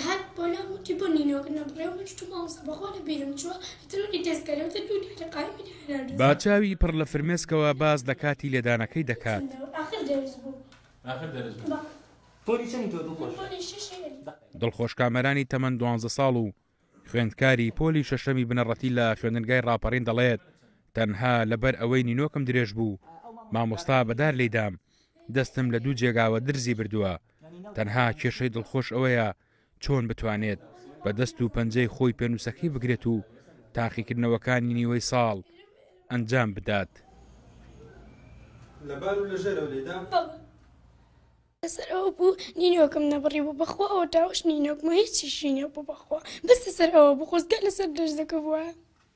هەر بۆ لام وتی بۆ نینۆک نەبڕێ و من شتوم مامۆستا بەخوا لە بیرم چووە ترۆری دەست کەرێ وتە دوو دیارە قایمی لە هەنار دزی. با چاوی پڕ لە فرمێسکەوە باس لە کاتی لێدانەکەی دەکات. چەندە ئاخر دەرس بوو. ئاخر دەرس بوو. با. پۆلی چەنی تۆ دڵخۆش؟ من پۆلی شەش ئەلی. دڵخۆش کامەرانی تەمەن دوانزە ساڵ و خوێندکاری پۆلی شەشەمی بنەڕەتی لە خوێندنگای ڕاپەڕین دەڵێت، تەنها لەبەر ئەوەی نینۆکم درێژ بوو مامۆستا بەدار لێی دام، دەستم لە دوو جێگاوە درزی بردووە، تەنها کێشەی دڵخۆش ئەوەیە چۆن بتوانێت بە دەست و پەنجەی خۆی پێنووسەکەی بگرێت و تاقیکردنەوەکانی نیوەی ساڵ ئەنجام بدات. لەسەر ئەوە بوو نینۆکم نەبڕی بوو بەخوا ئەوە داوەش نینۆکمە هیچیشی نیە بوو بەخوا بەس لەسەر ئەوە بوو خۆزگە لەسەر دەرزەکە بوایە.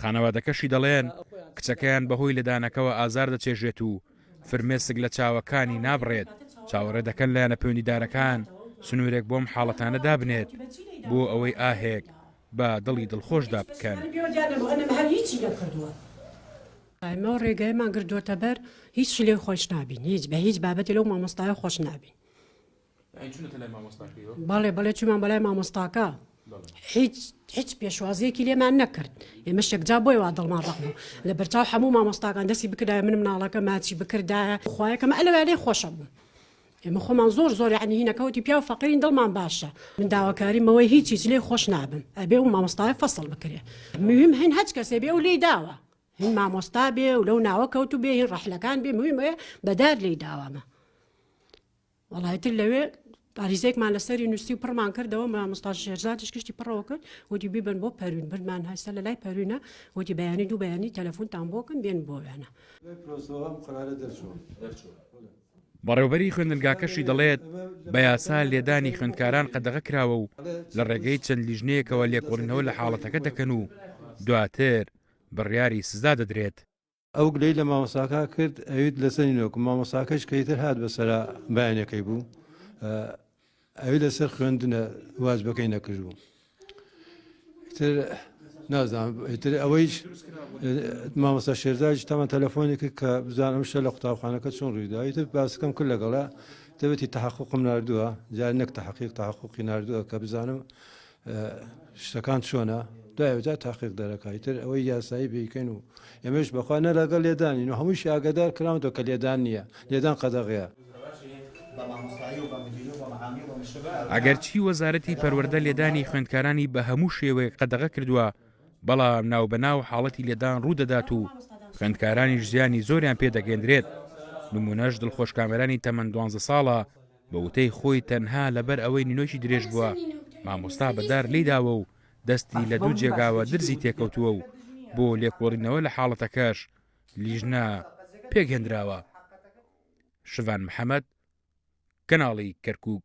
خانەوادەکەشی دەڵێن کچەکەیان بەهۆی لێدانەکەوە ئازار دەچێژێت و فرمێسک لە چاوەکانی نابڕێت، چاوەڕێ دەکەن لایەنە پەیوەندیدارەکان سنوورێک بۆم حاڵەتانە دابنێت بۆ ئەوەی ئاهێک بە دڵی دڵخۆشدا بکەن. ئێمە ڕێگایمان گرتووەتەبەر هیچ شلێ خۆش نابین هیچ بە هیچ بابەتێ لەو مامۆستایە خۆش نابین. یانی چونەتە لای مامۆستاکەیەوە؟ بەڵێ بەڵێ چومان بەلای مامۆستاکە هیچ هیچ پێشوازیەکی لێمان نەکرد ئێمە شێکجا بۆی وا دڵمان ڕق بوو لە بەرچاو هەموو مامۆستاکان دەستی بکردای من مناڵەکە ماچی بکردایە خویەکەمە ئەلوێ خۆشە بوو ئێمە خۆمان زۆر زۆر عنی هینەکەوتی پیا و فەقیرین دڵمان باشە من داواکاریمەوەی هیچ هیچ لێ خۆش نابم ئەبێ و مامۆستای فەسەڵ بکرێ مهم هەن هەچ کەسێ بێ و لی داوە هین مامۆستا بێ و لەو ناوە کەوت و بێ هین ڕەحلەکان بێ مهمەیە بەدار لی داوامە وەڵا ئیتر لەوێ تاریزێکمان لەسەری نووسی و پڕمان کردەوە مامۆستا شێرزادش کشتی پڕەوە کرد وتی بیبن بۆ پەروین بردمان هەستا لە لای پەروینە وتی بەیانی دوو بەیانی تەلەفۆنتان بۆکەم بێن بۆ وێنە بەڕێوبەری خوێندنگاکەشی دەڵێت بە یاسا لێدانی خوێندکاران قەدەغە کراوە و لە ڕێگەی چەند لیژنەیەکەوە لێکۆڵینەوە لە حاڵەتەکە دەکەن و دواتر بڕیاری سزا دەدرێت ئەو گلەی لە مامۆساکە کرد ئەویت لە سەری نۆکم مامۆساکەش کە ئیتر هات بەسرا بەیانەکەی بوو ئەوی لەسەر خوێندنە واجبەکەی نەکرد بوو تر نازانم ئیتر ئەوەیش مامۆستا شێرزاج تەمان تەلەفۆنێک کە بزانم شە لە قوتابخانەکە چۆن ڕوویدا ئیتر باسەکەم کرد لەگەڵە دەبێتی تحققم نردووە جار نەک تحقیق تحققی نردووە کە بزانم شتەکان چۆنە دوایجا تاقیق دەرەکای تر ئەوەی یاسایی بیکەین و ئێمەش بەخوا نە لەگەڵ لێدانین و هەمووش ئاگادار کراونەوە کە لێدان نییە لێدان قەدەغەیە. ئەگەرچی وەزارەتی پەروەردە لێدانی خوێندکارانی بە هەموو شێوەیەک قەدەغە کردووە، بەڵام ناوبەناو حاڵەتی لێدان ڕوودەدات و خوێندکارانیش زیانی زۆریان پێدەگەیەندرێت، نموونەش دڵخۆش کامەرانی تەمەن دوانزە ساڵە، بە وتەی خۆی تەنها لەبەر ئەوەی نینۆکی درێژ بووە مامۆستا بە دار لێی داوە و دەستی لە دوو جێگاوە درزی تێکەوتووە و بۆ لێکۆڵینەوە لە حاڵەتەکەش لیژنە پێکهێندراوە. شڤان محەمەد، کەناڵی کەرکووک.